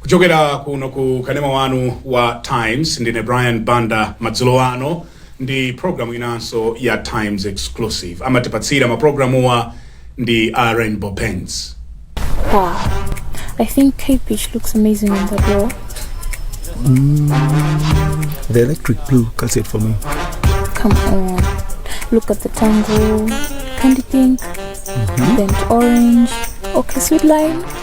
kuchokera kuno ku kanema wanu wa times ndine brian banda madzulo ano ndi programu inanso ya times exclusive amatipatsira maprogramuwa ndi a Rainbow Paints Wow. I think Cape Beach looks amazing in that role. The electric blue cuts it for me. Come on. Look at the tango, candy pink, burnt orange, okay, sweet lime.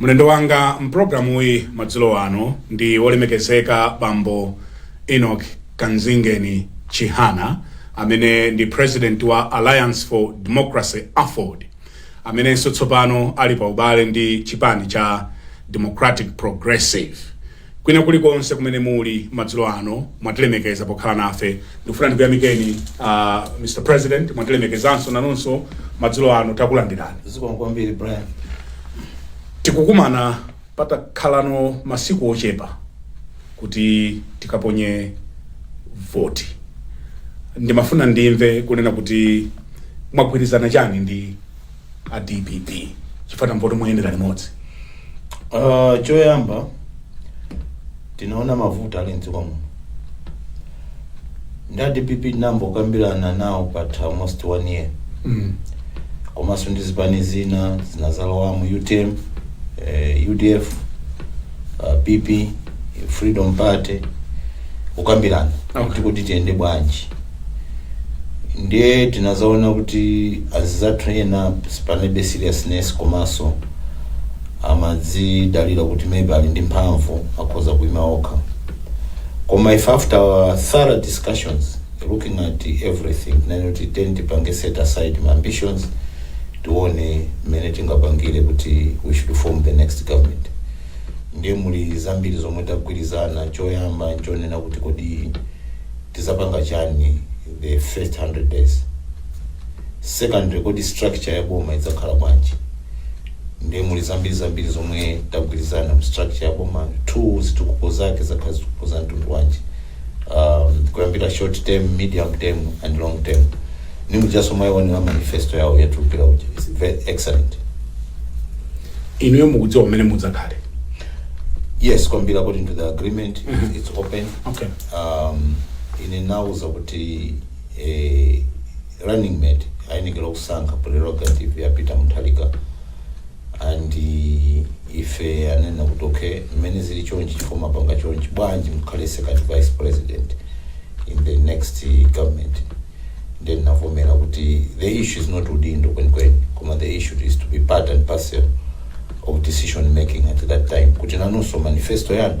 mlendo wanga mpulogalamuyi madzulo ano ndi wolemekezeka bambo enoch kanzingeni chihana amene ndi president wa alliance for democracy aford amenenso tsopano ali pa ubale ndi chipani cha Democratic Progressive. Kwina kulikonse kumene muli madzulo ano mwatilemekeza pokhala nafe, ndikufuna ndikuyamikeni uh, Mr President, mwatilemekezanso nanunso madzulo ano takulandirani. Zikomo kwambiri Brian. Tikukumana Patakhalano masiku ochepa kuti tikaponye voti, ndimafuna ndimve kunena kuti mwagwirizana chani ndi a dpp chifukwa tamva kuti muyendera limodzi. Choyamba tinaona mavuto ali mdziko muno ndi a dpp tinambokambirana nawo patha almost one year Mm. komanso ndi zipani zina zinazalowamo utm eh, udf, pp freedom party kukambirana Okay. kuti kodi tiyende bwanji ndiye tinazaona kuti anzathu ena panebe seriousness komanso amadzidalira kuti maybe ali ndi mphamvu akhoza kuima okha koma if after our thorough discussions looking at everything tinene kuti tiyeni tipange set aside my ambitions tione mmene tingapangire kuti we should form the next government ndiye muli zambiri zomwe tagwirizana choyamba nchonena kuti kodi tizapanga chani the first 100 days secondly kodi structure ya boma idzakhala bwanji ndiye muli zambiri zambiri zomwe tagwirizana mu structure ya boma two zitukuko zake zidzakhala zitukuko za mtundu wanji um, kuyambira short term medium term and long term ndi mujanso mwaionera manifesto yawo yatulukira uja is very excellent inuyo mukudziwa mmene mudzakhalire yes kwambiri according to the agreement it's open okay um, ine anandiuza kuti eh, running mate ayenekera kusankha prerogative ya peter mutharika and eh, ife anena kuti okay mmene zili chonchi chifukwa mwapanga chonchi bwanji mukhale second vice president in the next eh, government then ndinavomera kuti the issue is not udindo kwenikweni koma the issue is to be part and parcel of decision making at that time kuti nanenso manifesto yanu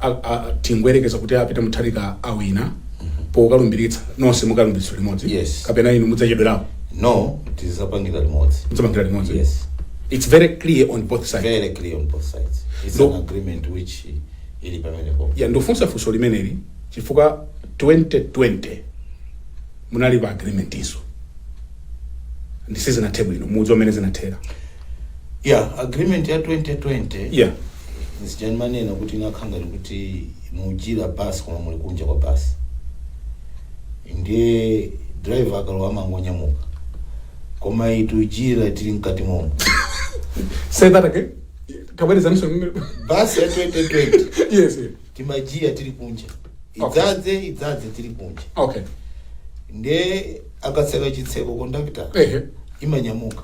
a- a- tingoyerekeza kuti a peter mutharika awina pokalumbiritsa nonse mukalumbiritsidwa limodzi Yes. kapena inu mudzachedwerapo no tidzapangira limodzi mudzapangira limodzi yes it's very clear on both sides very clear on both sides it's No. an agreement which ili pamenepo ya ndafunsa funso limeneli chifukwa 2020 munali pa agreement inanso ndi sizinathe bwino mudziwa mmene zinathera ya agreement ya 2020 Yeah. nchija ndimanena kuti inakhala ngati kuti muyitanira basi koma muli kunja kwa basi ndiye driver akalowa amangonyamuka koma itujira tili mkati momo Say that again. Kabweleza mse. basi ya 2020 Yes. yeah. timajiya tili kunja idzadza idzadza tili kunja okay nde akatseka chitseko kondakitala Ehe. imanyamuka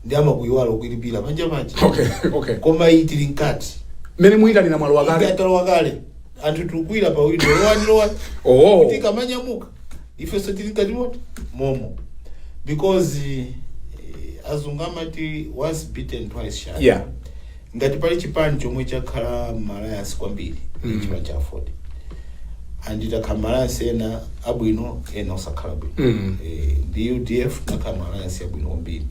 ndi amakuyiwala ukuyitanira panja paja okay okay koma iyi tili mkati mmene muyitanira mwalo wakale ikatalowa kale anthu tikukwira pa windo lowani lowani Oh. kuti kamanyamuka ifenso tili mkati momo momo because eh, azungu amati once bitten twice shy yeah Ngati pali chipani chomwe chakhala m'ma Alliance kwambiri ndi chipani cha Aford. And takhala m'ma Alliance ena abwino ena osakhala bwino. Mm. Eh, ndi UDF takhala m'Alliance yabwino kwambiri.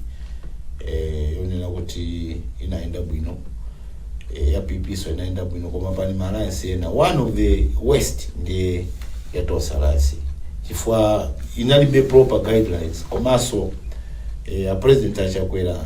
Eh, yonena kuti inayenda bwino. Eh, ya PP nso inayenda bwino koma pali ma Alliance ena. One of the worst ndi ya Tonse Alliance. Chifukwa inalibe proper guidelines komanso eh, a president a Chakwera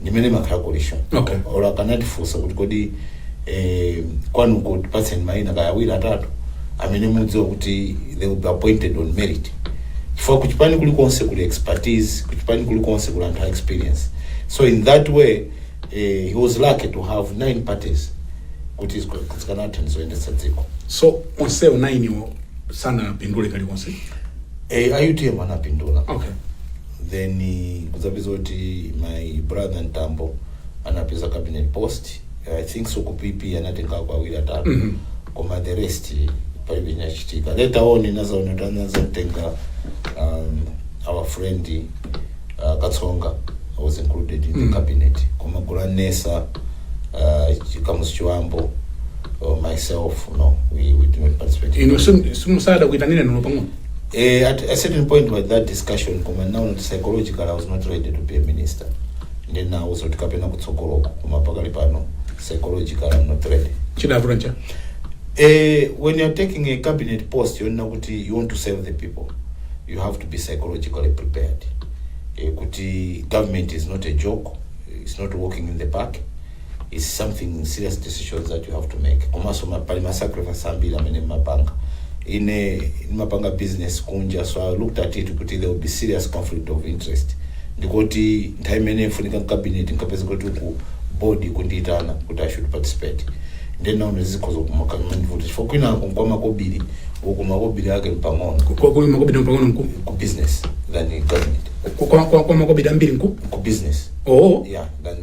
ndimene imakhalira coalition Okay. olo akanatifunsa kuti kodi eh, kwanuko tipatseni mayina kaya awiri atatu amene mukudziwa kuti they will be appointed on merit chifukwa kuchipani kulikonse kuli expertise kuchipani kulikonse kuli anthu a experience so in that way eh, he was lucky to have nine parties kuti zika- zikanatha kuyendetsa dziko so onsewo nainiwo sanapindule kalikonse eh, a utm anapindula okay then nkudzapeza kuti my brother mtambo anapeza cabinet post i think so ku pp anatengako awiri atatu Mhm. koma the rest palibe chinachitika later on ndinadzaona kuti anadzatenga um, our friend uh, katsonga was included in the Mhm. cabinet koma Gwalanesa uh, Kamuzu Chibambo or myself no we, we did not participate in inu the- simunaitanidwe olo pang'ono Eh, at a certain point with that discussion koma now not psychological I was not ready to be a minister ndi nawuzo tikapena kutsogoloko koma pakali pano psychological I'm not ready chidavuta ncha eh, when you're taking a cabinet post yonena kuti you want to serve the people you have to be psychologically prepared eh, kuti government is not a joke it's not walking in the park is something serious decisions that you have to make komanso ma- pali ma sacrifice ambiri amene mmapanga ine ndimapanga business kunja so i looked at it kuti there will be serious conflict of interest ndikuti nthawi imene nkufunika mcabinet nkapeza kuti ku board kundiyitana kuti i should participate ndenaona zikhoza kumakandivuta chifukwa kwinako nkwa makobiri uku makobiri ake mpang'ono Kwa- kwa makobidi mpang'ono mku ku business than government kwa- kwa- kwa- kwa makobidi ambiri mku ku business oo yeah than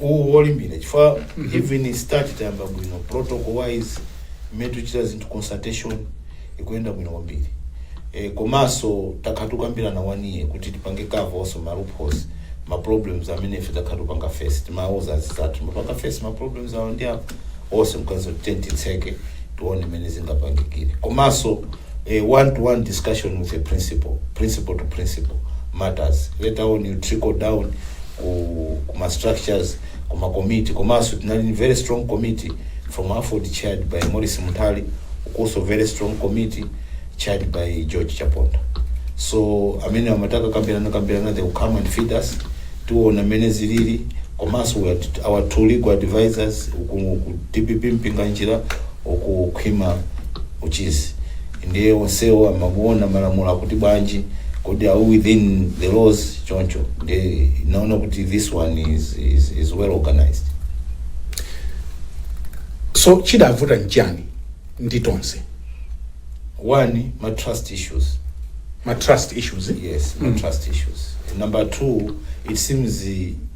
uwu wolimbira chifukwa even start tayamba bwino protocol wise mmene tikuchita zinthu consultation ikuyenda bwino kwambiri e, komanso takhala tikukambirana one kuti tipange cover also ma loopholes ma problems amene ife takhala tikupanga face timawuza anzathu timapanga face ma problems awa ndi awa onse nkati then titseke tione mmene zingapangikire komanso A one to one discussion with a principal, principal to principal matters. Later on you trickle down ku, ku ma structures, ku ma committee. Komanso tinali very strong committee from Aford chaired by Morris Mutali, also very strong committee chaired by George Chaponda. So amene amataka kambirana kambirana they will come and feed us. Tiona mene zilili komanso we had our two legal advisors ku ku DPP Mpinganjira okukhwima uchizi ndiye onsewo amakuona malamulo akuti bwanji kodi are we within the laws choncho ndinaona kuti this one is, is, is well organized so chidavuta nchani ndi tonse one ma trust issues ma trust issues yes ma trust issues number two it seems eh,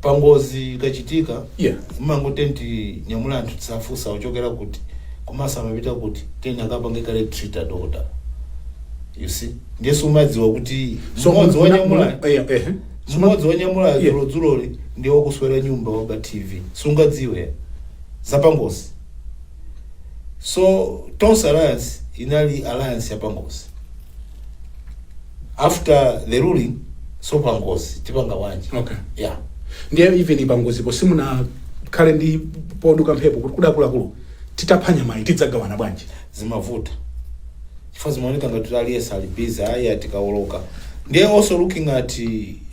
pangozi ikachitika Yeah. umangoti unyamula anthu safunsa uchokera kuti komanso amapita kuti then akapange kaye treat adokota you see ndiye sumadziwa kuti So, mmodzi muna- wanyamula muna- eh, eh. mmodzi wanyamula Yeah. dzulodzuloli ndi wakuthyolera nyumba waba tv sungadziwe zapangozi so tonse alliance inali alliance yapangozi after the ruling so pangozi tipanga bwanji Okay. yeah ndiye even pangozipo simunakhale ndi kuduka mphepo kuti akuluakulu titapha nyamayi tidzagawana bwanji zimavuta chifukwa zimaoneka ngati kuti aliyense ali busy ayi ayi tikawoloka ndiye also looking at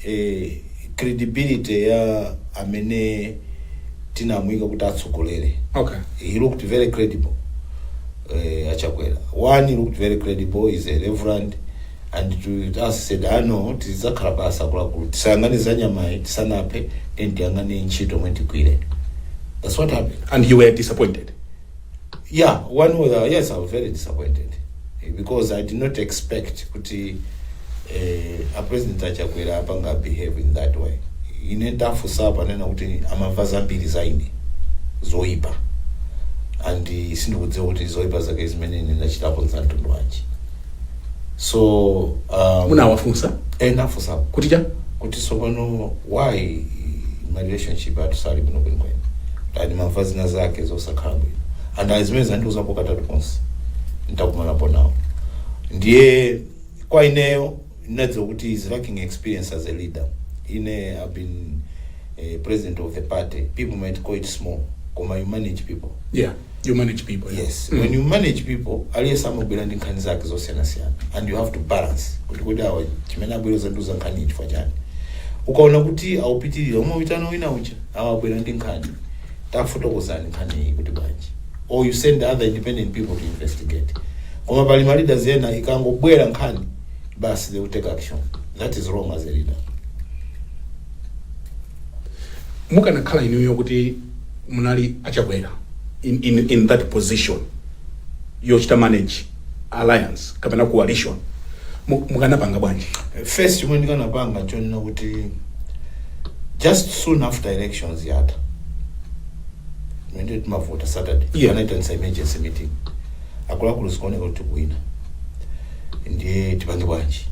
eh, credibility ya amene tinamuyika kuti atsogolere okay he looked very credible uh, achakwera one he looked very credible is a reverend and to us said ah no tidzakhala pansi akuluakulu tisayang'ane za nyamayi tisanaphe then tiyang'ane ntchito mwe tigwire that's what happened and you were disappointed yeah one was uh, yes i was very disappointed eh, because i did not expect kuti eh, a president achakwera apanga behave in that way ine ndafunsa panena kuti amamva zambiri za ine zoipa and eh, sindikudziwa kuti zoipa zake zimene ine ndachitapo za mtundu wanji so um, munawafunsa ndinafunsa kuti cha kuti tsopano why ma relationship athu sali bwino kwenikweni ali ndimamva zina zake zosakhala bwino and ayi zimene andiuzapo katatu konse ntakumanapo nawo ndiye kwa ineyo ndinadziwa kuti he's lacking experience as a leader ine i've been eh, president of the party people might call it small koma you manage people yeah you manage people yeah. yes when you manage people aliyense amabwera ndi nkhani zake zosiyanasiyana and you have to balance kuti kodi awa chimene abwera kuzandiuza nkhani iyi chifukwa chani ukaona kuti akupitirira umaitana wina uja awa abwera ndi nkhani tafotokozani nkhani iyi ikuti bwanji or you send other independent people to investigate koma pali ma leaders ena ikangobwera nkhani basi they will take action that is wrong as a leader mukanakhala inuyo kuti munali achakwera in, in, in that position yochita manage alliance kapena coalition mu- mukanapanga bwanji first chomwe ndikanapanga chonena kuti just soon after elections yatha mmene timavota saturday Yeah. anaitanitsa emergency meeting akuluakulu zikuoneka kuti tikuwina ndiye tipange bwanji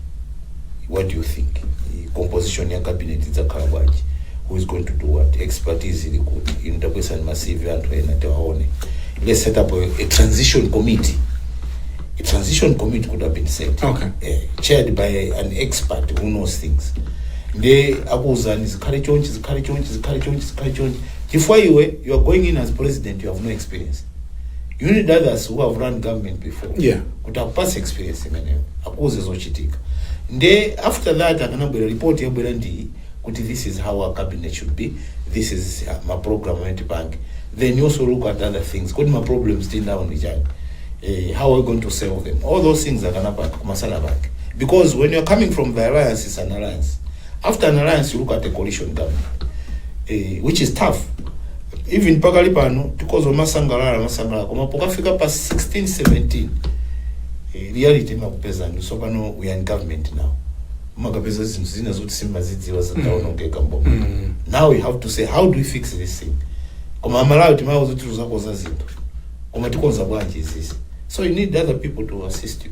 what do you think I- composition ya cabinet idzakhala bwanji who is going to do what expertise ili kuti inu tabwesani ma cv anthu ena tiwaone let's set up a, a transition committee a transition committee could have been set Okay. eh, chaired by an expert who knows things nde akuwuzani zikhale chonchi zikhale chonchi zikhale chonchi zikhale chonchi chifukwa iwe you are going in as president you have no experience you need others who have run government before Yeah. kuti akupase experience imeneyo akuuze zochitika nde after that akanabwera report yabwera ndi kuti this is how our cabinet should be this is uh, ma program amene tipange then you also look at other things kodi ma problems tinawo ndi chani eh, how are we going to solve them all those things akanapanga kumasana pake because when you're coming from the alliance is an alliance After an alliance, you look at the coalition government, eh, which is tough. Even pakali pano, akhoza kumasangalala, masangalala, koma pokafika pa 16, 17, eh, reality imakupeza ndi tsopano we are in government now. Umakapeza zinthu zina zoti sumazidziwa zataonongeka mboma. Mm. Now we have to say how do we fix this thing? Koma amalawi timawauza kuti tizakonza zinthu. Koma tikonza bwanji izizi. So you need other people to assist you.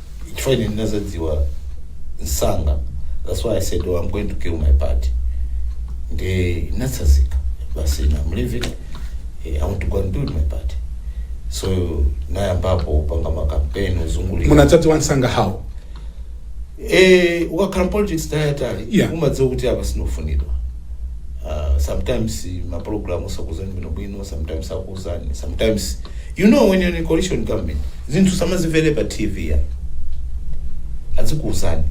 chifukwa ine ndinazidziwa msanga that's why i said oh, i'm going to build my party nde ndinatsazika basi now i'm leaving eh, i want to go and build my party so nayambapo kupanga makampeni kuzungulira munazidziwa msanga how Eh, ukakhala mu politics nthawi yayitali Yeah. umadziwa kuti apa sindikufunidwa uh, sometimes maprogram sakuuzani bwinobwino sometimes akuuzani sometimes You know when you're in a coalition government, zinthu sumazimvera pa TV ya. Azikuuzani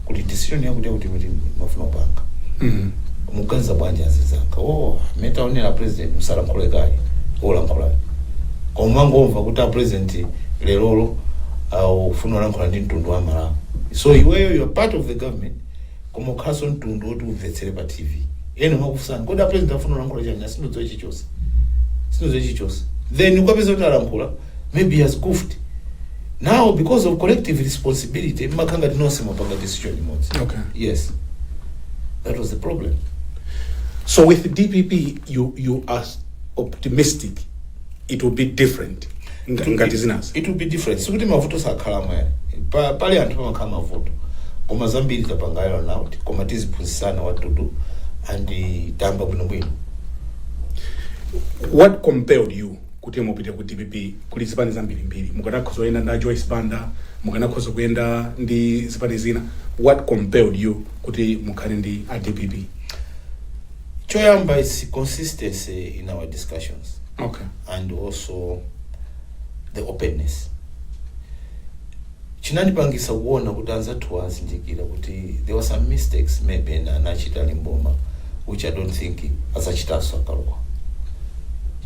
kuti decision yakuti yakuti timafuna kupanga. Mm. Mukuganiza bwanji anzanga. Oh, mmene taonera a president musalankhule kaye. Olankhula. Koma mangomva kuti a president lerolo akufuna kulankhula ndi mtundu wa Malawi. So iweyo you are part of the government. koma ukhalanso mtundu oti uvetsere pa tv ena amakufunsani kodi a president afuna kulankhula chani "Ah, sindidziwa chichonse sindidziwa chichonse then ukapeza kuti alankhula maybe he has goofed now because of collective responsibility mmakhala ngati nonse mwapanga decision imodzi Okay. yes that was the problem So with DPP, you you are optimistic it will be different ndanena kuti it will be different sikuti mavuto sakhalamo eee pali anthu pamakhala mavuto koma zambiri tapangayo naut koma tiziphunzisana attitude and tayamba bwinobwino what compelled you kuti mupite ku dpp kuli zipani zambirimbiri mukanakhoza kuyenda ndi a joyce banda mukanakhoza kuyenda ndi zipani zina what compelled you kuti mukhale ndi a dpp choyamba its consistency in our discussions okay and also the openness chinandipangisa kuona kuti anzathuwa azindikira kuti there were some mistakes maybe ena anachita ali m'boma which i don't think azachitanso akalowa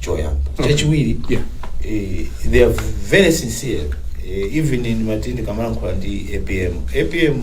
choyamba Okay. chachiwiri yeah eh, they are very sincere eh, even in nthawi ndikamalankhula ndi apm apm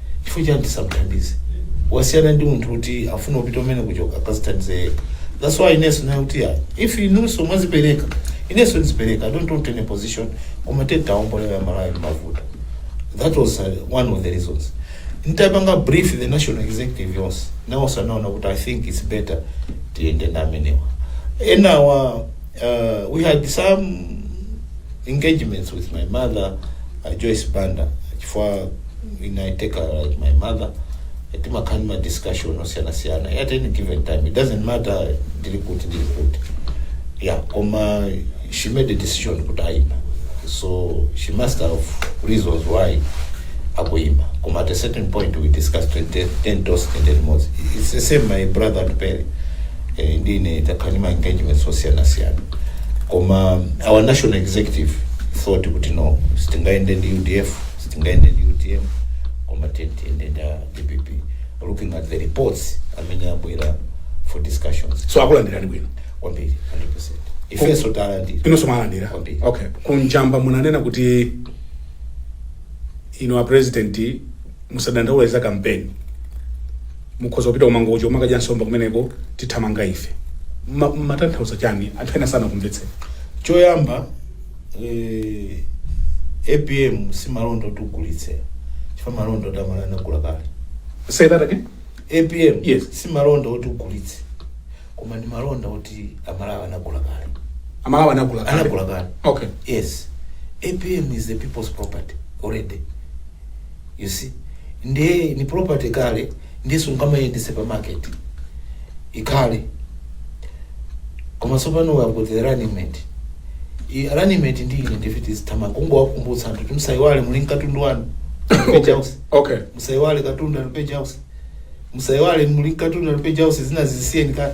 chifukwa chani tisamthandize wasiyana ndi munthu woti afuna kupita mmene kuchoka akazithandize yekha that's why ineso naye kuti ya if inuso mwazipereka ineso ndizipereka i don't want any position koma tiwaombole a malawi mavuto that was uh, one of the reasons ntapanga brief the national executive yonse nawonso anaona kuti i think its better tiyende ndi amenewa enawa uh, we had some engagements with my mother a Joyce Banda chifukwa ine I take her like my mother timakhala ndi ma discussion osiyanasiyana at any given time it doesn't matter ndili kuti ndili kuti yeah koma she made a decision kuti ayima so she must have reasons why akuyima koma at a certain point we discussed 10 10 toast and chimodzimodzi it's the same my brother Atupele eh, ndine takhala ndi ma engagements osiyanasiyana koma our national executive thought kuti no sitingayende ndi udf sitingayende ndi utm koma tiyende ndi dpp looking at the reports amene abwera for discussions so akulandirani bwino kwambiri 100% ifenso talandira inonso mwalandira Kwambiri. okay ku Mjamba munanena kuti ino a president musadandaule za kampeni Mukhoza kupita ku Mangochi kumakadya nsomba kumeneko tithamanga ife. Mma mumatanthauza chani anthu ena sanakumvetseni. Choyamba eeh apm si malonda oti ugulitse chifukwa malonda oti amalawi anagula kale. Say that again? Apm Yes. si malonda oti ugulitse koma ndi malonda oti amalawi anagula kale. Amalawi anagula kale. Anagula kale. Okay. Yes. Apm is the people's property already. you see ndiye ndi property kale ndiye sungamayendese pa market ikhale koma tsopano we have got the running mate I- running mate ndi ine ndiye tizithamanga kungowakumbutsa anthu kuti musayiwale muli ndi katundu wanu okay okay musayiwale katundu ali page house musayiwale muli ndi katundu ali page house zina zisiyeni kale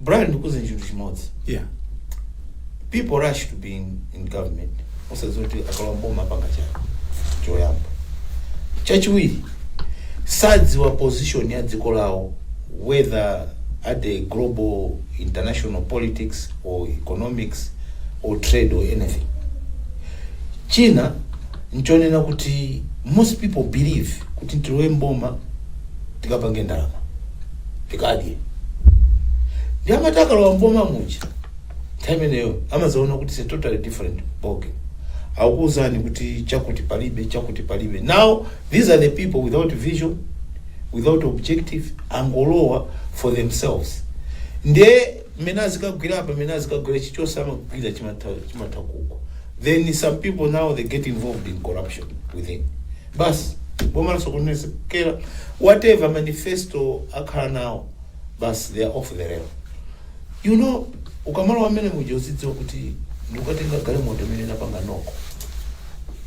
Brian ndikuuze chinthu chimodzi yeah people rush to be in, in government osadziwa kuti akalowa mboma apanga chani choyamba chachiwiri sadziwa position ya dziko lawo whether at the global international politics or economics or trade or anything china nchonena kuti most people believe kuti tilowe mboma tikapange ndalama tikadye nde amati akalowa mboma muja nthawi imeneyo amazaona kuti it's totally different boge akuuzani kuti chakuti palibe chakuti palibe now these are the people without vision without objective angolowa for themselves nde mmene azikagwira apa mmene azikagwira chichonse amagwira chimatha chimathawa uko then some people now they get involved in corruption within Bas boma lasokonezekera whatever manifesto akhala nawo bas they are off the rail you know ukamalowa amene muja uzidziwa kuti ndikutenga galimoto imene inapanga knock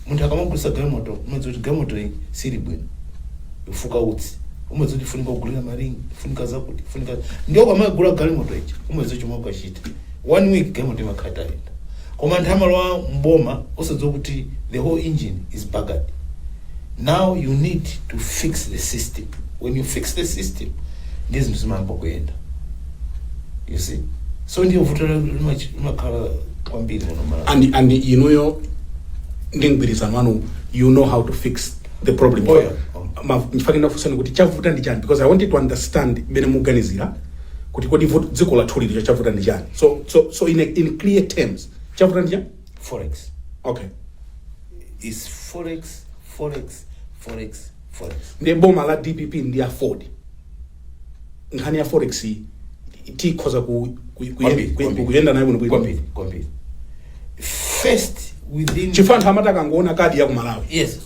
munthu akamagulisa galimoto umadziwa kuti galimoto iyi sili bwino ifuka utsi umadziwa kuti ifunika kugulira maringi ifunika zakuti ifunika ndiye ukamagula galimoto ija umadziwa chomwe ukachita one week galimoto imakhala itayenda Koma anthu amalowa m'boma osadziwa kuti the whole engine is buggered. Now you need to fix the system. When you fix the system, ndiye zinthu zimayamba kuyenda. You see? So ndiye vuto la- limachi- limakhala kwambiri muno m'Malawi. and and inuyo ndi mgwirizano wanu you know how to fix the problem Oh, yeah. Ma- ndimafuna kufunsani kuti chavuta ndi chani because i wanted to understand mmene muganizira kuti kodi vut- dziko lathuli lino chavuta ndi chani so, so, so in, a, in clear terms chavuta ndi chani forex okay is forex forex forex forex ndi boma la dpp ndi aford nkhani ya forex iyi tikhoza ku, ku, ku, Kwambiri, ku, kwambiri. kuyenda nayo bwino kwambiri bwino kwambiri first within chifukwa anthu amati akangoona kadi ya ku malawi yes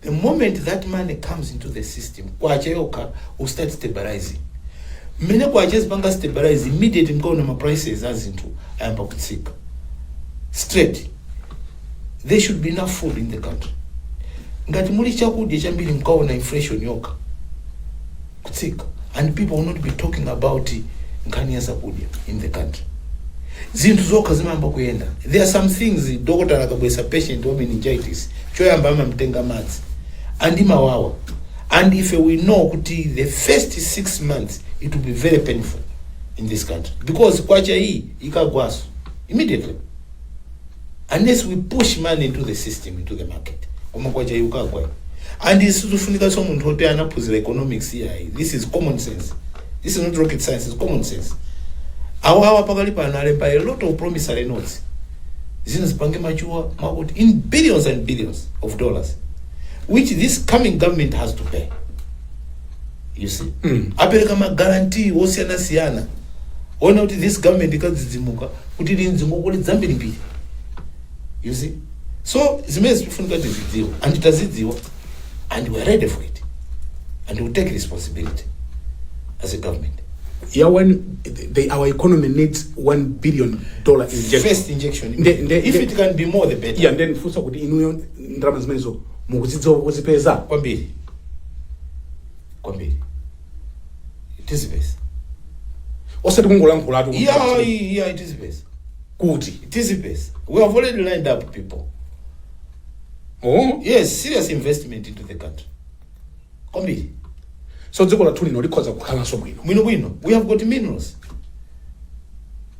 the moment that money comes into the system kwacha yokha will start stabilizing mmene kwacha izipanga stabilize immediate mkaona ma prices a zinthu ayamba kutsika straight there should be enough food in the country ngati muli chakudya chambiri mkaona inflation yokha kutsika and people will not be talking about nkhani ya zakudya in the country zinthu zokha zimayamba kuyenda there are some things dokotala akabweretsa patient wa meningitis choyamba amamtenga madzi and imawawa and ife we know kuti the first six months it will be very painful in this country because kwacha iyi ikagwaso immediately unless we push money into the system into the market koma kwacha yukagwa and isizufunika so munthu oti anaphunzira economics yayi this is common sense this is not rocket science is common sense awawa pakali pano alemba a lot of promissory notes zino zipange machuwa makuti in billions and billions of dollars which this coming government has to pay you see mm. apereka magarantii osiyanasiyana ona kuti this government ikadzidzimuka kuti ili ndi ngongole dzambirimbiri you see so zimene zikufunika tizidziwa and tazidziwa and we are ready for it and we take responsibility as a government ya one they, our economy needs one billion dollar injection first injection Nde- nde- if nde- it can be more the better yeah, ndifunse kuti inuyo ndalama zimenezo mukuzidziwa kuzipeza kwambiri kwambiri tizipeza osati kungolankhulatu yeah yeah tizipeza kuti tizipeza we have already lined up people oh yes serious investment into the country kwambiri so dziko lathu lino likhoza kukhalanso bwino bwino bwino we have got minerals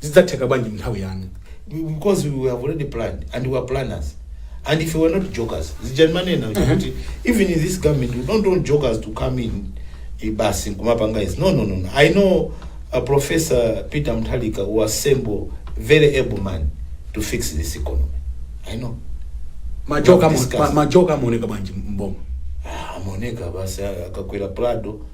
zidzatheka bwanji mnthawi yanu? because we have already planned and we are planners and if we were not jokers zija manena kuti even in this government we don't want jokers to come in eh, basi kumapanga izi no no no no. i know uh, professor peter mtalika who assemble very able man to fix this economy i know majoka Discuss. ma- majoka amaoneka bwanji mboma Ah, amaoneka basi akakwera prado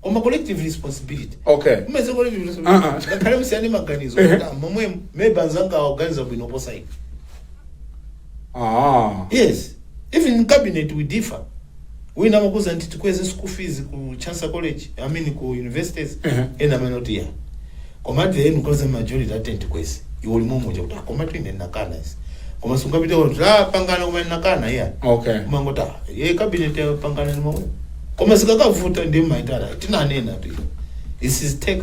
koma collective responsibility Okay. kumeza collective Ah, ah. responsibility ngakhale musiyane maganizo Ehe. kuti momwe maybe anzanga aganiza bwino posa ine Ah. yes even in cabinet we differ wina amakuuza kuti tikweze school fees ku chancellor college i mean ku universities Ehe. ena amanena kuti iyayi Komatu ee mukhoza majority yati tikweze iwe uli momuja kuti ah komatu ine nakana izi koma sungapite kwa kuti ah apanga koma nakana iyayi Okay. umangoti ah ye cabinet yapangana ndi momwe koma zikakavuta ndi maitala tinanenatu this is take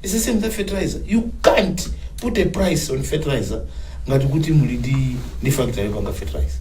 it's the same as fertilizer you can't put a price on fertilizer ngati kuti muli ndi ndi factory yopanga fertilizer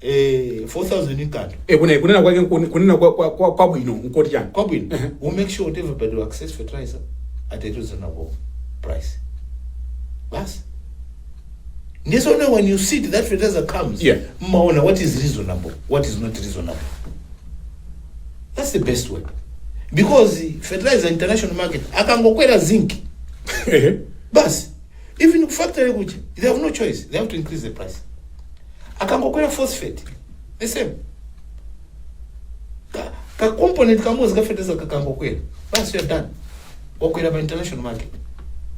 eh 4000 nkanthu e kuna kunena kwake nkuni- kunena kwa- kwa- kwa- kwabwino nkoti chani kwabwino Ehe. we make sure that everybody will access fertilizer at a reasonable price basi ndiye so now when you see that fertilizer comes Yeah. mmaona what is reasonable what is not reasonable that's the best way because fertilizer international market akangokwera zinc Ehe. basi even ku factory kuja they have no choice they have to increase the price akangokwera phosphate the same ka, ka component kamodzi ka fertilizer kakangokwera basi you're done wakwera pa international market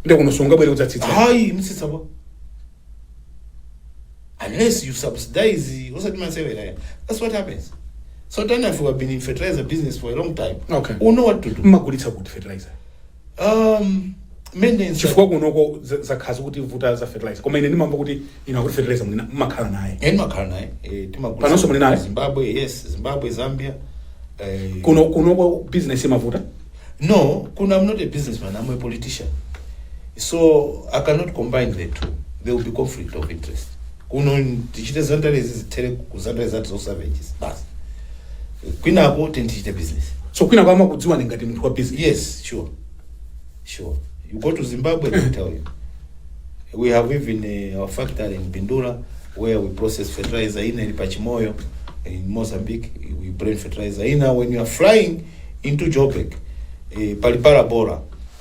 nde kuno sungabwere kudzatsitsa hayi kutsitsa pa unless you subsidize osati masewera ya that's what happens so tani if you have been in fertilizer business for a long time Okay. you know what to do mmagulitsa kuti fertilizer Um, maintenance. chifukwa kunoko za- zakhala zokuti vuto za fertilizer koma ine ndimamva kuti inu akuti fertilizer muli na- mumakhala naye Eh, ndimakhala naye eh, timagula- Panonso muli naye? zimbabwe yes zimbabwe zambia eh, kuno kunoko business imavuta no kuno i'm not a businessman i'm a politician so i cannot combine the two there will be conflict of interest kuno tichite zandarezi zithere ku zandare zathu zosavages basi kwinako tini tichite business so kwina kwa amakudziwani ngati munthu wa business yes sure sure you go to zimbabwe they tell you we have even uh, our factory in bindula where we process fertilizer ina ili pachimoyo in mozambique we bring fertilizer ina when you are flying into joburg eh, pali parabora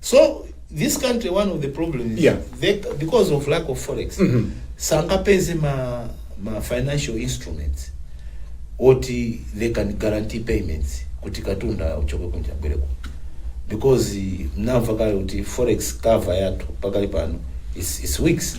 so this country one of the problem is Yeah. they, because of lack of forex sangapeze ma, ma financial instruments oti they can guarantee payments kuti katundu achoke kunja abwere kuno because eh, mnamva kale kuti forex cover yathu pakali pano is, is weeks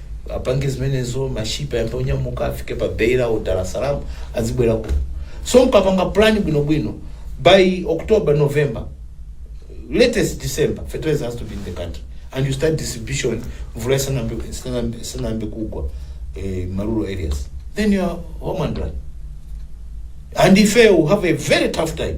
apange zimenezo mashipi ayambe onyamuka afike pa beira o dar es salaam azibwera kuno so mkapanga plan bwinobwino by october november latest december fertilizer has to be in the country and you start distribution mvula isanambe isanambe- isanambe kugwa eh, marural areas then you are home and dry and ife will have a very tough time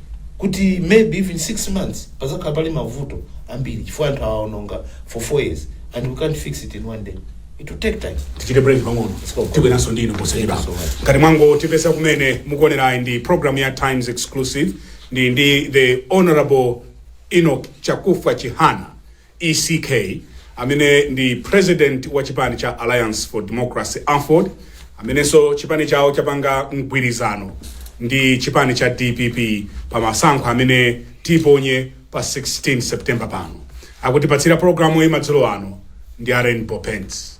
kuti maybe even 6 months padzakhala pali mavuto ambiri chifukwa anthu awa aononga for 4 years and we can't fix it in one day it will take time tichite break pang'ono go. tibweranso ndi inu posachedwa Thank you so much. ngati mwangotipeza kumene mukuonerayi ndi program ya times exclusive ndili ndi the honorable enoch Chakufwa chihana ECK, amene ndi President wa chipani cha Alliance for Democracy, Aford, amenenso chipani chawo chapanga mgwirizano ndi chipani cha dpp pa masankho amene tiponye pa 16 September pano. Akutipatsira programuyi madzulo ano ndi a Rainbow Paints.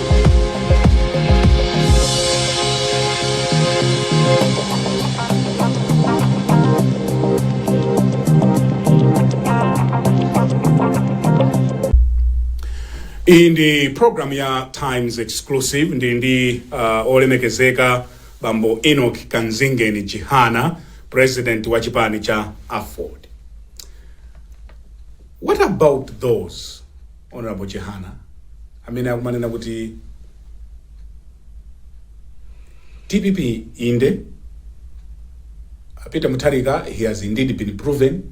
iyi ndi program ya times exclusive ndili ndi uh, olemekezeka bambo enoch Kamzingeni Chihana president wa chipani cha aford what about those Hon Chihana amene akumanena kuti dpp inde a Peter Mutharika he has indeed been proven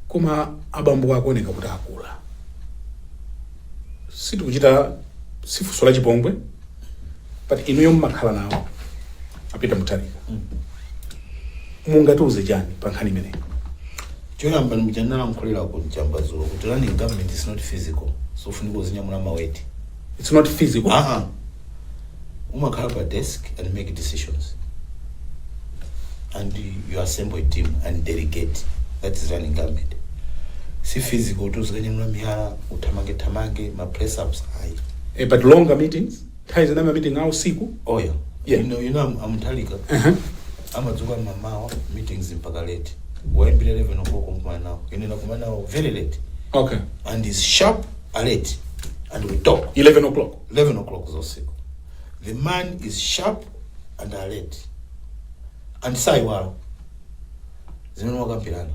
koma abambowo akuoneka kuti akula sitikuchita si funso la chipongwe but inuyo mmakhala nawo a Peter Mutharika mungatiuze chani pa nkhani imeneyi Choyamba ndimja ndinalankhulira kuja mbazulo kuti running government is not physical. So ufunika uzinyamula maweti. It's not physical. Ah ah. Umakhala pa desk and make decisions. And you assemble a team and delegate. That is running government. Si physical tuzikanyamula miyala uthamange thamange ma press ups ayi. Eh, but longer meetings. Nthawi zina ma meeting a usiku. Oh yeah. Yeah. You know, you know I'm, I'm Mutharika. Uh -huh. amadzuka mamawa meetings mpaka late waimbira 11 o'clock kumana nawo ine nakumana nawo very late Okay. and is sharp alert and we talk 11 o'clock. 11 o'clock zosiku the man is sharp and alert and saiwala zimene mwakambirana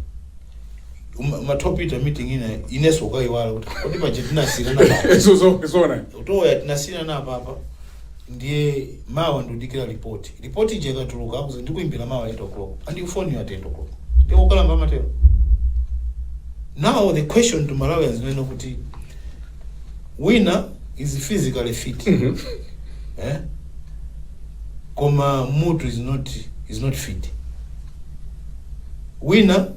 Uma- umatopita meeting ina inenso ukaiwala kuti kodi paja tinasiyirana papa Zo- zo- zona utoya tinasiyirana papa ndiye mawa udikira ripoti ripoti ija ikatuluka akuuza ndikuimbira mawa 8 o'clock sakufonera at 8 o'clock ndiye ukalamba amatero now the question to malawians ndi yoti wina is physically fit Mhm. eh? koma mutu is not, is not fit Wina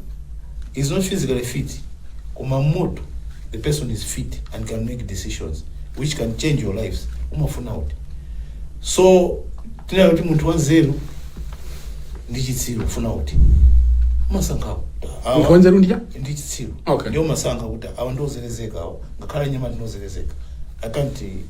is not physically fit koma mmutu the person is fit and can make decisions which can change your lives. Umafuna uti? So tinene kuti munthu wanzeru ndi chitsiru ufuna uti? Umasankha kuti awa- Munthu wanzeru ndi cha? ndi chitsiru Okay. ndiye umasankha kuti awa ndiozelezeka awa ngakhale anyamata ndiozelezeka i can't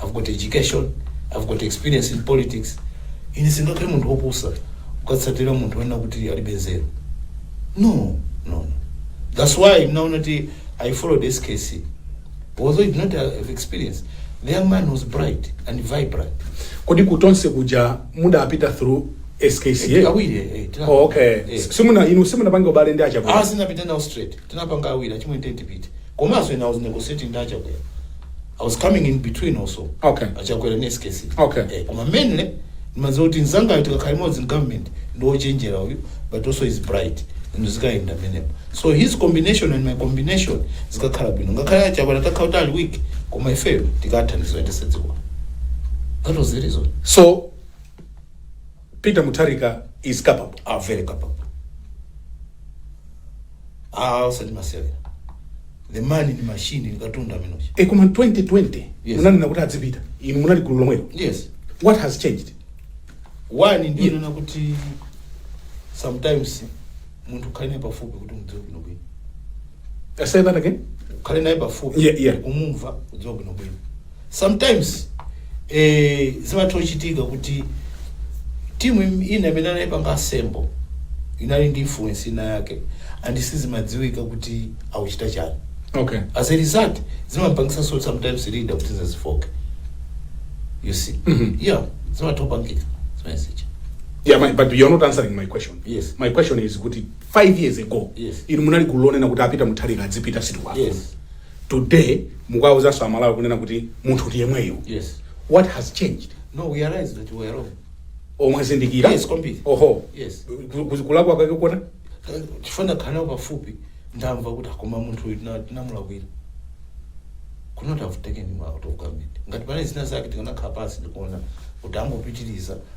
I've got education, I've got experience in politics. Ine sindingakhale munthu wopusa kukatsatira munthu woona kuti alibe nzeru. No, no. That's why munaona kuti I followed SKC. Although he did not have experience, the young man was bright and vibrant. kodi kutonse kuja mudapita through SKC Awiri, eh, tina- oh, okay eh. simuna inu simunapange ubale ndi achakwera Ah, sindinapite nawo straight. Tinapanga awiri, achimwene tipite. Komanso ena I was negotiating ndi achakwera. I was coming in between also Okay. achakwera ndi skc Okay. eh, koma mainly ndimadziwa kuti mnzangayo tikakhala limodzi in government ndi wochenjera uyu but also is bright and zikayenda pamenepo so his combination and my combination zikakhala bwino ngakhale achakwera atakhala kuti ali weak koma ifeyo tikatha ndithu kuyendetsa dziko that was the reason so Peter Mutharika is capable. Ah very capable. Ah, usati masewera. The man ndi machine ndi katundu amene uja. E koma 2020 Yes. munanena kuti adzipita. Inu munali gulu lomwelo. Yes. What has changed? One ndi yo Yeah. nena kuti sometimes munthu ukhale naye pafupi kuti umudziwe bwino bwino. Uh, say that again. ukhale naye pafupi Yeah, yeah. kumumva kumudziwa bwinobwino sometimes eh, zimatha kuchitika kuti timu im- ina imene anayipanga assemble inali ndi influence ina yake and sizimadziwika kuti akuchita chani Okay. as a result zimampangitsanso sometimes leader kuti azifooka you see Mhm. yeah zimatha kupangika zimenezo Yeah, my, but you're not answering my question. Yes. My question is kuti 5 years ago yes. inu munali gulu lonena kuti aPeter Mutharika adzipita sitikuwafuna yes. today mukuwauzanso amalawi kunena kuti munthu ndi yemweyo yes. what has changed no, we realize that we were wrong. oh mwazindikira Yes, kwambiri. oho Yes. Ku- ku- kulakwa kwake kuona chifukwa kukhala pafupi ndamva kuti ah koma munthu uyu tina- tinamulakwira could not have taken him out of government ngati panali zina zake tikanakhala pansi ndikuona kuti angopitiriza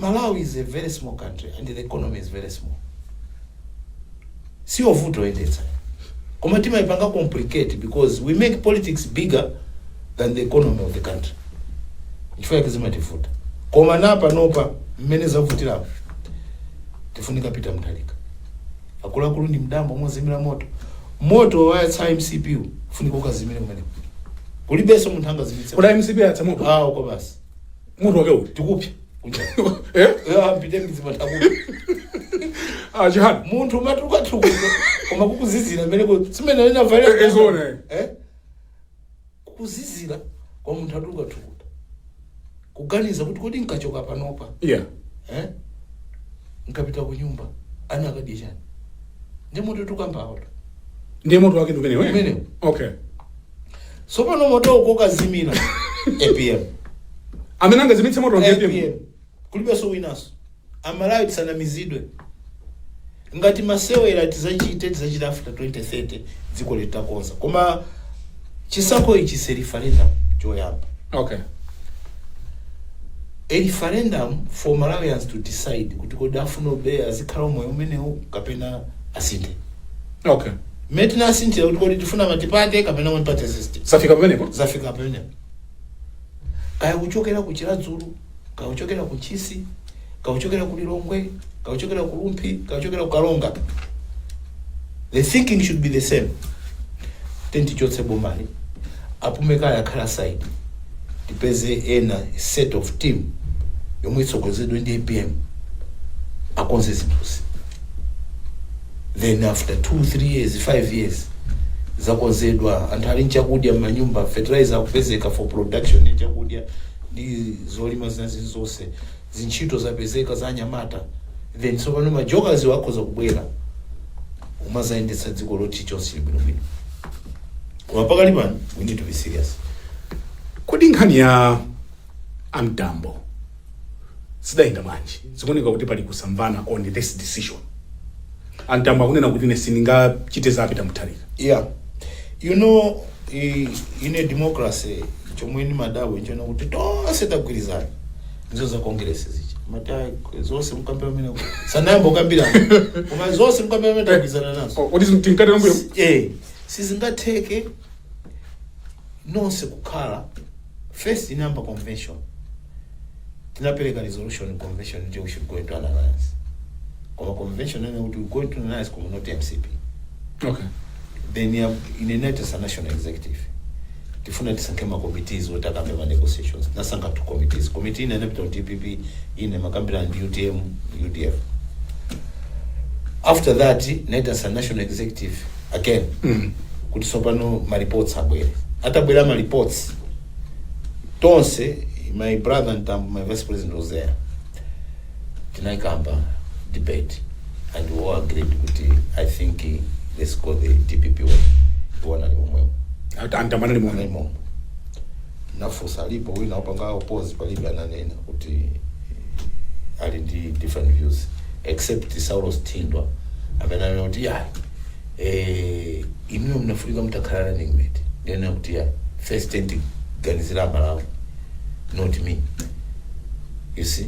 Malawi is a very small country and the economy is very small siyovuta kuyendetsa koma timaipanga complicate because we make politics bigger than the economy of the country chifukwa chake zimativuta koma panopa mmene zavutirapo tifunika Peter Mutharika akuluakulu ndi Mtambo yozimira moto moto wayatsa MCP uwu, ufunika ukazimire kumeneko kulibenso munthu angazimitse kuti MCP yasamuka awo kwa basi moto wake uti tikupsa Eh? ampite mizimataku Ah, chihani munthu amatukutuka koma kukuzizira meneko simene Eh, eh, zone. inavae kukuzizira kwa munthu akutukuta kuganiza kuti kodi nkachoka panopa yeah eh? nkapita ku nyumba ana akadya chani ndi moto tukambawoto ndiye moto wake ndi umenewo eh? Umenewo. okay Tsopano moto okazimitsa. APM. amene angazimitse moto APM. APM. Kulibenso winaso. Amalawi tisanamizidwe. Ngati masewera tizachite tizachita after 2030 dziko litakonza. Koma chisankho ichi si referendum choyamba. okay a referendum for Malawians to decide kuti kodi afuna mpaka azikhala moyo umenewu kapena asinthe okay Mmene tinasinthira kuti kodi tifuna multiparty kapena one party system. zafika pamenepo Zafika pamenepo. Kaya kuchokera ku Chiradzulu, kaya kuchokera ku Ntchisi, kaya kuchokera ku Lilongwe, kaya kuchokera ku Rumphi, kaya kuchokera ku Karonga. The thinking should be the same. Then tichotse bomali. Apume kaye akhale aside tipeze ena set of team yomwe itsogozedwe ndi APM akonze zinthuzi then after 2 3 years 5 years zakonzedwa anthu ali nchakudya mmanyumba fertilizer akupezeka for production ya chakudya ndi zolima zinazi zonse zintchito zapezeka za anyamata then tsopano majokazawa akhoza kubwera umazayendetsa dziko poti zonse zili bwinobwino koma pakali pano we need to be serious kodi nkhani ya a Mtambo zidayenda bwanji zikuoneka kuti pali kusamvana on this decision a Mtambo akunena kuti ine sindingachite za Peter Mutharika yeah you know i- in a democracy chomwe ndimadabwa nchoona kuti tonse tagwirizana ndizo za congress zichi mati ayi, zonse mukambira mene sanayamba ukambirana koma zonse mukambira mene tagwirizana nazo kodi tinkatera mbuyo eh sizingatheke nonse kukhala first inayamba convention tinapereka resolution convention nje we should go into an alliance koma convention ene kuti we go into an alliance koma not mcp okay then ndinaitanitsa national executive tifuna tisankhe ma committees oti akambe ma negotiations nasankha two committees committee ina inapita ku dpp ina imakambirana ndi utm udf after that ndinaitanitsa national executive again kuti tsopano ma reports abwere atabwera ma reports tonse my brother Ntambo, my vice president was there tinaikamba debate and we all agreed kuti i think eh, let's go the dpp way iwo anali momwemo Anta- a Ntambo anali momwemo nafusa alipo wina opanga oppose palibe ananena kuti ali ndi different views except saulos thindwa amene anena kuti ya eh, inuyo munafunika mutakhala running mate ndinena kuti ya first thing tiganizire malawi not me you see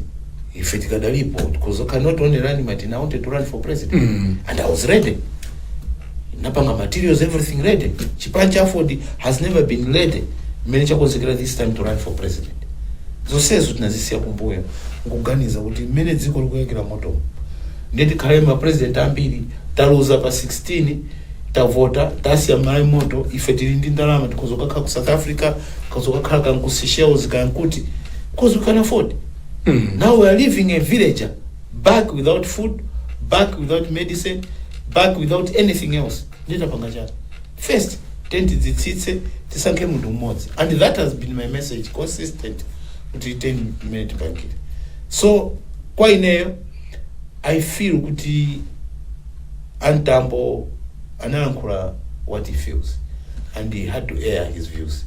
ife tikadalipo because I can not only running mate and I wanted to run for president and I was ready ndinapanga materials everything ready chipani cha aford has never been ready mmene chinakonzekera this time to run for president zonsezo tinazisiya kumbuyo nkuganiza kuti mmene dziko likuyakira moto ndiye tikhale ma president ambiri taluza pa 16 tavota tasiya malawi moto ife tili ndi ndalama tikhoza kukakhala ku south africa tikhoza kukakhala ku seychelles kuti because we can afford now we are leaving a villager back without food back without medicine back without anything else nde tapanga chani first thing tidzitsitse tisankhe munthu mmodzi and that has been my message consistent kuti 10 minute bankit so kwa ineyo i feel kuti antambo analankhula what he feels and he had to air his views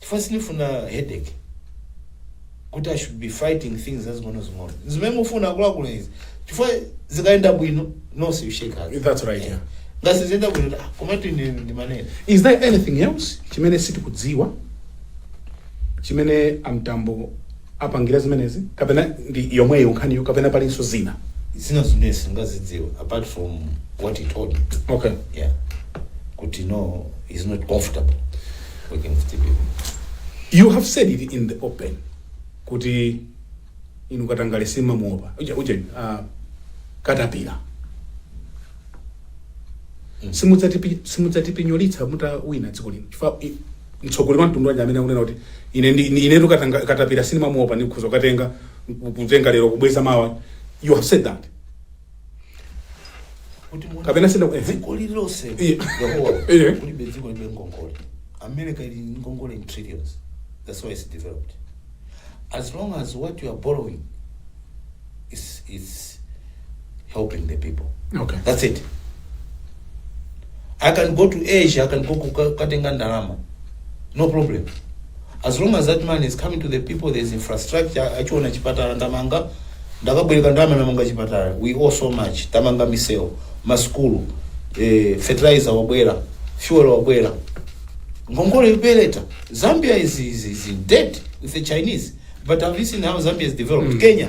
chifukwa sindifuna headache kuti i should be fighting things zazing'onozing'ono zimene mufuna akuluakulu izi chifukwa zikayenda bwino nonse you shake hands That's right, yeah. ngati siziyenda bwino ah, komatu ine ndimanena is there anything else chimene sitikudziwa chimene amtambo apangira zimenezi kapena ndi yomweyo nkhaniyo kapena palinso zina zina zimene sitikuzidziwa apart from what he told me okay yeah kuti no he's not comfortable you have said it in the open kuti inu katangale simumamuopa uja uja uh, katapira simudzatipi- simudzatipinyolitsa mutawina dziko lino chifukwa i- mtsogoleri wa mtundu wanji amene akunena kuti ine ndi- ni- inetu katanga- katapira sindimamuopa ndikhoza kukatenga kutenga lero kubweza mawa you have said that kuti muone Kapena sina- ehe. dziko lililonse Iye. Yehova, Iye. kulibe dziko lilibe ngongole america ili ndi ngongole in trillions that's why it's developed as long as what you are borrowing is, is helping the people okay that's it i can go to asia i can go kukatenga ndalama no problem as long as that money is coming to the people there is infrastructure akuchiona chipatala ndamanga ndakabwereka ndalama ndamanga chipatala we owe so much tamanga misewu masukulu eh, fertilizer wabwera fuel wabwera ngongole ibweretsa zambia is, is, is in debt with the chinese but have you seen how zambia is developed kenya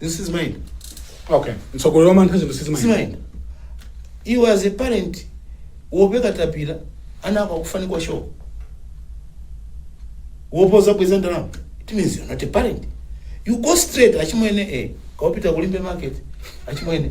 zinthu sizimayenda okay mtsogoleri wa mantha zinthu sizimayenda sizimayenda iwe as a parent osakatapira ana ako akufunika shuga kuopa zobweza ndalama it means you're not a parent you go straight achimwene eh kaya upita ku limbe market achimwene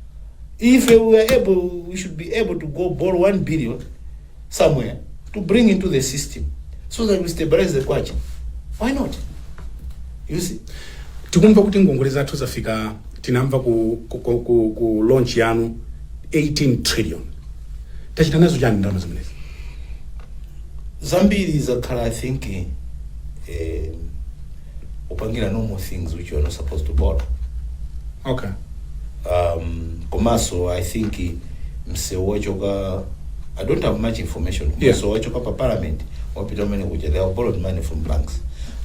If we were able, we should be able to go borrow 1 billion somewhere to bring into the system so that we stabilize the kwacha. Why not? You see? tikumva kuti ngongole zathu zafika tinamva ku, ku, ku, ku, ku launch yanu 18 trillion tachita nazo chani ndalama zimenezi Zambiri zakhala I think eh, upangira normal things which you are not supposed to borrow okay um, komanso i think msewu wachoka i don't have much information Yeah. msewu wachoka pa parliament wapita umene kuja they have borrowed money from banks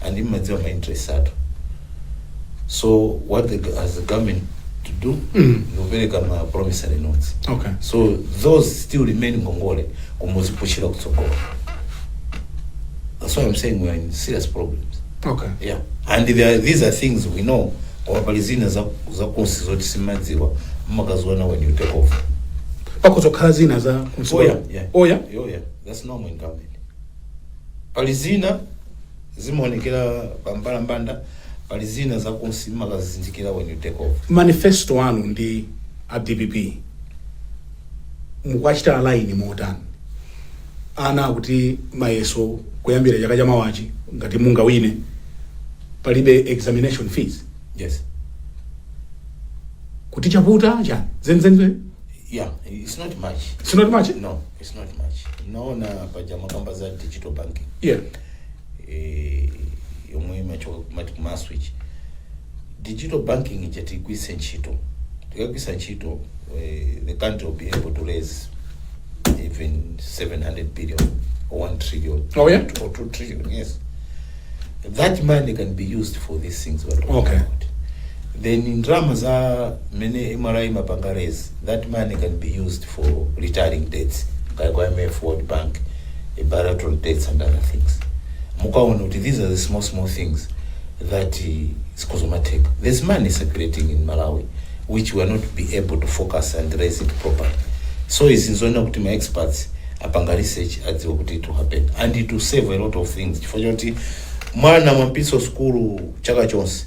and imadziwa ma interest athu so what the, go- has the government to do Mm. ndikupereka ma promissory notes okay so those still remain ngongole koma uzipushira kutsogolo that's why i'm saying we're in serious problems okay yeah and there are, these are things we know koma pali zina za- zakunsi zoti simmazidziwa mmakaziona when you take over pakudzakhala zina za msukulu. oya yeah. oya Oh, yeah. that's normal in government pali zina zimaonekera pambalambanda pali zina zakunsi mmakazizindikira when you take over manifesto anu ndi a dpp mukuwachita align motani ana akuti mayeso kuyambira chaka chamawachi ngati mungawine palibe examination fees yes kuti chavuta chani zenizeni yeah it's not much it's not much no it's not much naona paja mmakamba za digital banking yeah eh, yomwe imachoka kumati kumaswitch digital banking ija tigwiritse ntchito tikagwiritsa ntchito eh, the country will be able to raise even 700 billion or 1 trillion Oh, yeah? or 2 trillion yes that money can be used for these things we're talking Okay. about then ndrama za mene mra imapanga raise that money can be used for retiring debts kaya kwa imf world bank eh, bilateral debts and other things mukaona kuti these are the small small things that eh, zikumatheka there's money circulating in malawi which we are not be able to focus and raise it properly so izi nzoona kuti ma experts apanga research adziwe kuti it will happen and it will save a lot of things chifukwa choti mwana mwampititsa sukulu chaka chonse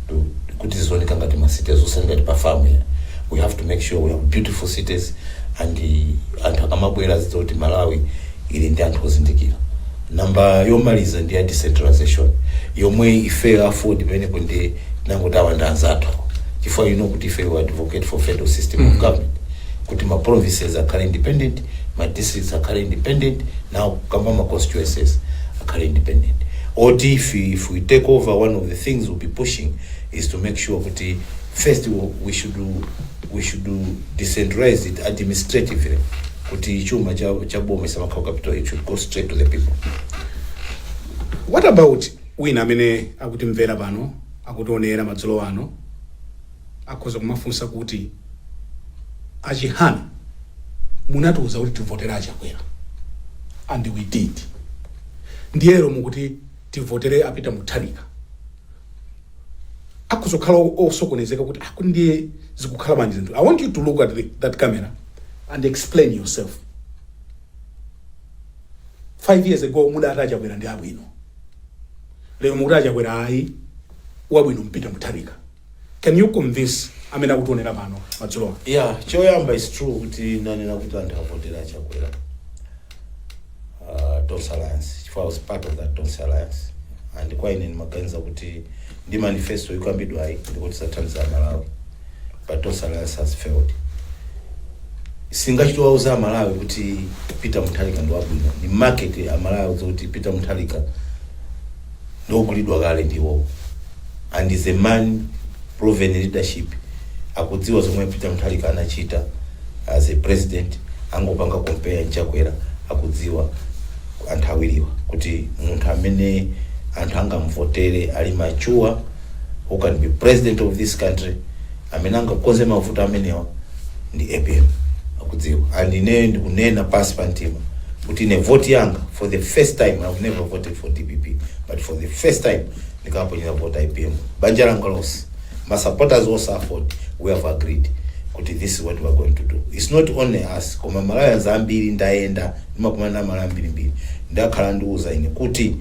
so kuti zizioneka ngati ma cities osati ngati pa farm ya we have to make sure we have beautiful cities and uh, anthu akamabwera azidziwa kuti malawi ili ndi anthu ozindikira namba yomaliza ndi ya decentralization yomwe ifeyo aford pamenepo ndinangoti aaa anzathu chifukwa you know kuti ifeyo we advocate for federal system of government kuti ma provinces akhale independent ma districts akhale independent now kamba ma constituencies akhale independent oti if, we- if we take over one of the things we'll be pushing is to make sure kuti first we- we should we should decentralize it administratively kuti chuma cha cha boma isamakhala capital it should go straight to the people what about wina amene akutimvera pano akutionera madzulo ano Akhoza kumafunsa kuti a Chihana munatiuza kuti tivotele a Chakwera and we did ndiye lero mukuti tivotele a Peter Mutharika. Akhoza kukhala osokonezeka kuti ah, kuti ndiye zikukhala bwanji zinthu. I want you to look at the, that camera and explain yourself. Five years ago mudati a Chakwera ndi abwino, lero mukuti a Chakwera ayi wabwino ndi Peter Mutharika. Can you convince amene akutionera pano madzulowa? ya choyamba is true kuti nanena kuti anthu avotere chakwera uh, tonse alliance chifukwa I was part of that tonse alliance and kwa ine ndimaganiza kuti ndi manifesto ikukambidwayi ndikuti ithandiza malawi but tonse alliance has failed sindachite kuwauza amalawi kuti peter mutharika ndi wabwino ni market amalawi akudziwa kuti peter mutharika ndi ogulidwa kale ndi iwowo and he is a man proven leadership akudziwa zomwe a Peter Mutharika anachita as a president angopanga compare nchakwera akudziwa anthu awiriwa kuti munthu amene anthu angamvotere ali mature who can be president of this country amene angakonze mavuto amenewa ndi apm akudziwa and ineyo ndikunena pansi pa mtima kuti ine voti yanga for the first time i've never voted for dpp but for the first time ndikaponyera vota apm banja langa lonse ma supporters onse aford we have agreed kuti this is what we are going to do it's not only us koma malawians ambiri ndayenda ndimakumana ndi amalawi ambirimbiri akhala akundiuza ine kuti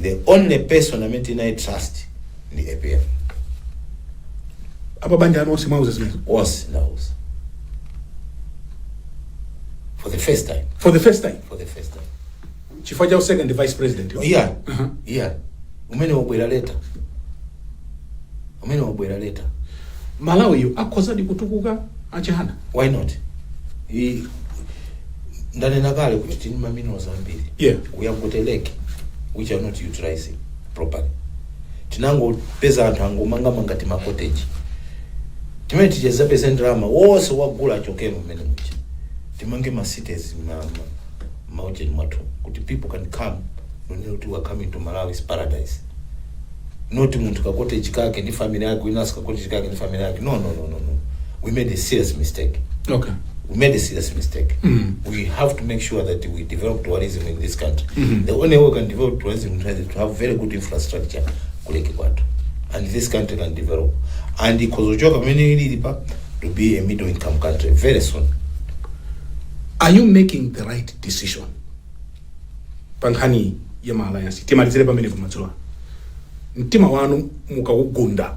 the only person amene tinayi trust ndi apm apa banja lanu onse mwauza zimenezo onse ndawauza for the first time for the first time for the first time chifukwa cha second vice president yo. iya Aha. iya umene wabwera late umene wabwera late malawi yo akhozadi kutukuka achihana why not I, ndanena kale kuti tili ndi maminerals ambiri Yeah. we have got a lake which we are not utilizing properly tinangopeza anthu angomangamanga tima cottage timene tikazapeze ndalama wonse wagula achokere mmene muja timange ma cities ma- ma- maujeni mwathu kuti people can come n'kunena kuti we are coming to malawi's paradise not munthu ka cottage kake ndi family yake winanso ka cottage kake ndi family yake no no no no no we made a serious mistake okay we made a serious mistake. We have to make sure that we develop tourism in this country. The only way we can develop tourism in Tanzania is to have very good infrastructure kuleke kwathu. And this country can develop. And ikozochoka pamene ilili pa to be a middle income country very soon. are you making the right decision pa nkhani ya ma alliance timalizire pamene pamadzulo mtima wanu mukawugunda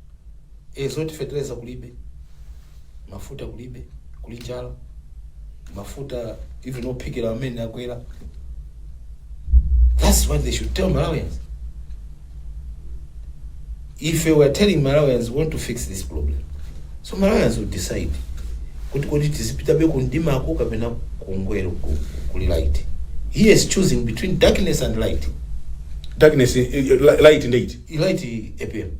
e zoti feteleza kulibe mafuta kulibe kuli njala mafuta even ophikira amene akwera that's what they should tell malawians ife we are telling malawians we want to fix this problem so malawians will decide kuti kodi tizipitabe kumdimako kapena ku ngwee ku- kuli light he is choosing between darkness and light darkness eh, eh, light ndeit light apm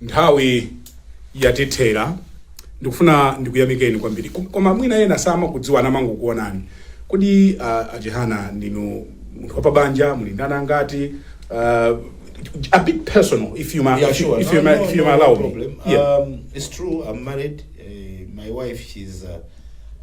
Nthawi yatithera. Ndikufuna ndikuyamikeni kwambiri. Kom- Koma mwina ena samakudziwani amangokuonani. Kodi uh, Achihana ndinu munthu wapabanja, muli ndi ana angati? Uh, a bit personal if you may, Yeah, if you, sure. if No, you may, no, if you no, may no allow me. problem. Yeah. Um, it's true. I'm married. Uh, my wife, she's uh,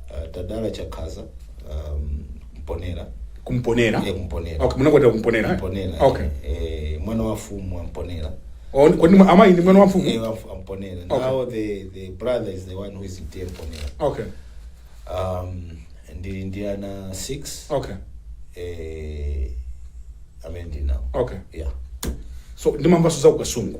uh, tadala chakhaza um, mponera kumponera Iye kumponera okay munakwatira kumponera eh? mponera okay eh, mwana wa fumu wa mponera Oh, ni- kodi mwa- amayi ndi mwana wa mfumu Iye wa fu- wa mponera Okay. now the, the brother is the one who is dear mponera okay um, ndili ndi ana 6 okay eh, amene ndinawo okay yeah so ndimamvanso za ku kasungu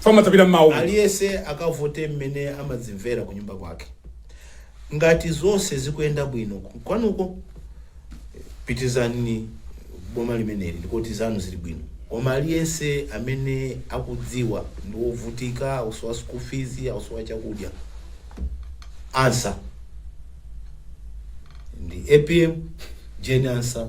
fama tapita mmawa umu. aliyense akavote mmene amadzimvera ku nyumba kwake ngati zonse zikuyenda bwino kumakwanuko pitizani boma limeneli ndikuti zanu zili bwino koma aliyense amene akudziwa ndi wovutika akusowa school fees akusowa chakudya ansa ndi apm jane ansa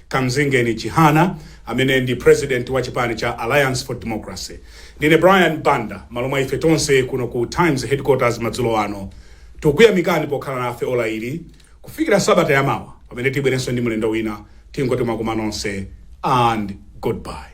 Kamzingeni Chihana amene ndi President wa chipani cha Alliance for Democracy. Ndine Brian Banda m'malo mwa ife tonse kuno ku Times Headquarters madzulo ano, tikukuyamikani pokhala nafe ola lili kufikira sabata ya mawa pamene tibwerenso ndi mlendo wina, tingoti mwakoma nonse and goodbye.